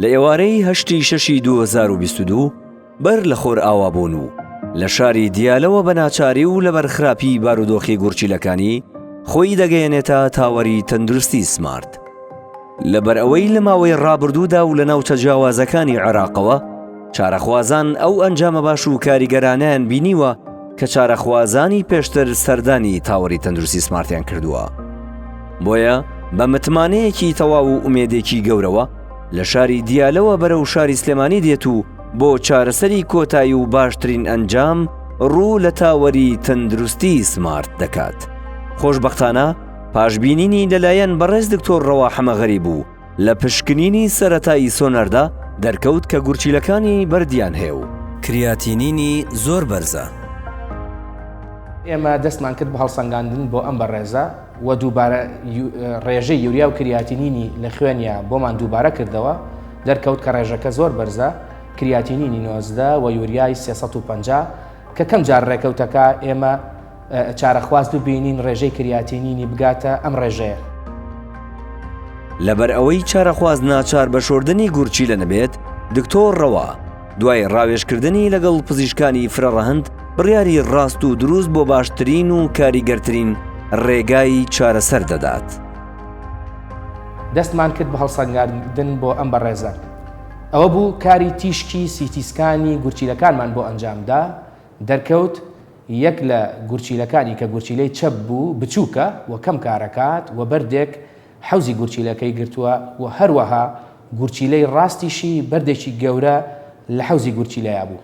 لە ئێوارەی هەشتی شەشی 2022 بەر لە خۆر ئاوابوون و لە شاری دیالەوە بە ناچاری و لە بەرخراپی بارودۆخی گورچیلەکانی خۆی دەگەیەنێتە تاوەری تەندروستی سمارت. لەبەر ئەوەی لە ماوەی ڕابردوودا و لە ناوچە جیاوازەکانی عێراقەوە چارەخوازان ئەو ئەنجامە باش و کاریگەرانیان بینیوە کە چارەخوازانی پێشتر سەردانی تاوەری تەندروستی سمارتیان کردووە بۆیە بە متمانەیەکی تەواو و ئومێدێکی گەورەوە لە شاری دیالەوە بەرەو شاری سلێمانی دێت و بۆ چارەسەری کۆتایی و باشترین ئەنجام ڕوو لە تاوەری تەندروستی سمارت دەکات خۆشببختانە پاشببینینی لەلایەن بەڕێز دکتۆر ڕەوا حەمەغەری بوو لە پشکنینی سەرەتایی سۆنەردا دەرکەوت کە گورچیلەکانی بەردیان هەیە و کریاتینینی زۆر بەرزە. ئێمە دەستمان کرد بە هەڵسەنگاندن بۆ ئەم بەڕێزە و دووبارە ڕێژەی یوریا و کریاتینینی لە خوێنیا بۆمان دووبارە کردەوە، دەرکەوت کە ڕێژەکە زۆر بەرزە، کریاتینینی نۆزدە و یوریای سێ سەد و پەنجا، کە کەم جار ڕێکەوتەکە ئێمە، چارەخواز ببینین ڕێژەی کریاتینینی بگاتە ئەم ڕێژەیە. لەبەر ئەوەی چارەخواز ناچار بە شۆردنی گورچیلە نەبێت، دکتۆر ڕەوا دوای ڕاوێژکردنی لەگەڵ پزیشکانی فرەڕەهەند بڕیاری ڕاست و دروست بۆ باشترین و کاریگەرترین ڕێگای چارەسەر دەدات. دەستمان کرد بە هەڵسەنگاندن بۆ ئەم بەڕێزە. ئەوە بوو کاری تیشکی سیتیسکانی گورچیلەکانمان بۆ ئەنجامدا، دەرکەوت یەک لە گورچیلەکانی کە گورچیلەی چەپ بوو بچووکە و کەم کارەکات و بەردێک حەوزی گورچیلەکەی گرتووە و هەروەها گورچیلەی ڕاستیشی بەردێکی گەورە لە حەوزی گورچیلەیا بوو.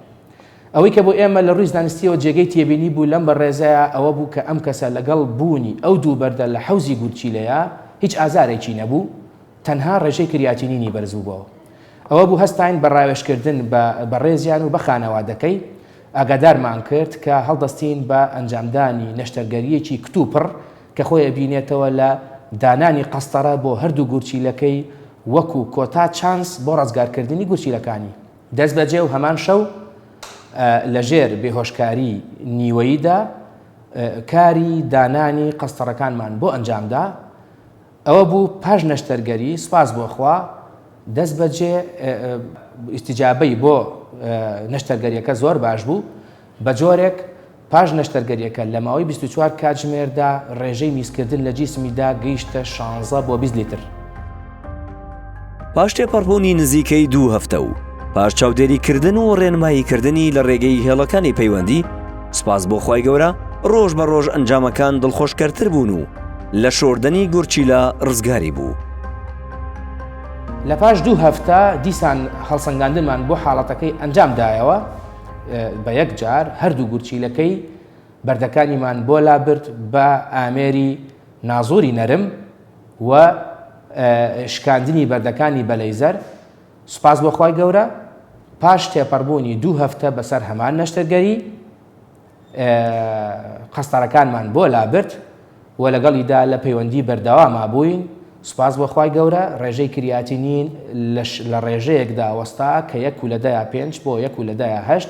ئەوەی کە بۆ ئێمە لە ڕووی زانستییەوە جێگەی تێبینی بوو لەم بەڕێزەیا ئەوە بوو کە ئەم کەسە لەگەڵ بوونی ئەو دوو بەردە لە حەوزی گورچیلەیا هیچ ئازارێکی نەبوو تەنها ڕێژەی کریاتینینی بەرزبووبەوە. ئەوە بوو هەستاین بە ڕاوێژکردن بە بەڕێزیان و بە خانەوادەکەی ئاگادارمان کرد کە هەڵدەستین بە ئەنجامدانی نەشتەرگەرییەکی کتوپڕ کە خۆی ئەبینێتەوە لە دانانی قەستەرە بۆ هەردوو گورچیلەکەی وەکو کۆتا چانس بۆ ڕزگارکردنی گورچیلەکانی دەستبەجێ و هەمان شەو لە ژێر بێهۆشکاری نیوەییدا کاری دانانی قەستەڕەکانمان بۆ ئەنجامدا. ئەوە بوو پاش نەشتەرگەری سوپاس بۆ خوا دەست بەجێ ئیستیجابەی بۆ نەشتەرگەریەکە زۆر باش بوو بە جۆرێک پاش نەشتەرگەریەکە لە ماوەی 24 کاتژمێردا ڕێژەی میزکردن لە جیسمیدا گەیشتە 16 بۆ 20 لیتر. پاش تێپەڕبوونی نزیکەی دوو هەفتە و پاش چاودێریکردن و ڕێنماییکردنی لە ڕێگەی هێڵەکانی پەیوەندی سپاس بۆ خی گەورە ڕۆژ بە ڕۆژ ئەنجامەکان دڵخۆشکەرتر بوون و لە شۆردنی گورچیلا ڕزگاری بوو. لە پاش دوو هەفتە دیسان هەڵسەنگاندمان بۆ حاڵەتەکەی ئەنجام دایەوە بە یەک جار هەردوو گورچیلەکەی بەردەکانیمان بۆ لابرد بە ئامێری نازۆری نەرم و شکاندنی بەردەکانی بە لەیزەر، سوپاس بۆ خوای گەورە پاش تێپەڕبوونی دوو هەفتە بەسەر هەمان نەشتەرگەری قەستەرەکانمان بۆ لابرد و لەگەڵیدا لە پەیوەندی بەردەواما بووین، سوپاس بۆ خوای گەورە ڕێژەی کریاتینین لە ڕێژەیەکدا وەستا کە یەک و لە دەیا پێنج بۆ یەک و لە دەیا هەشت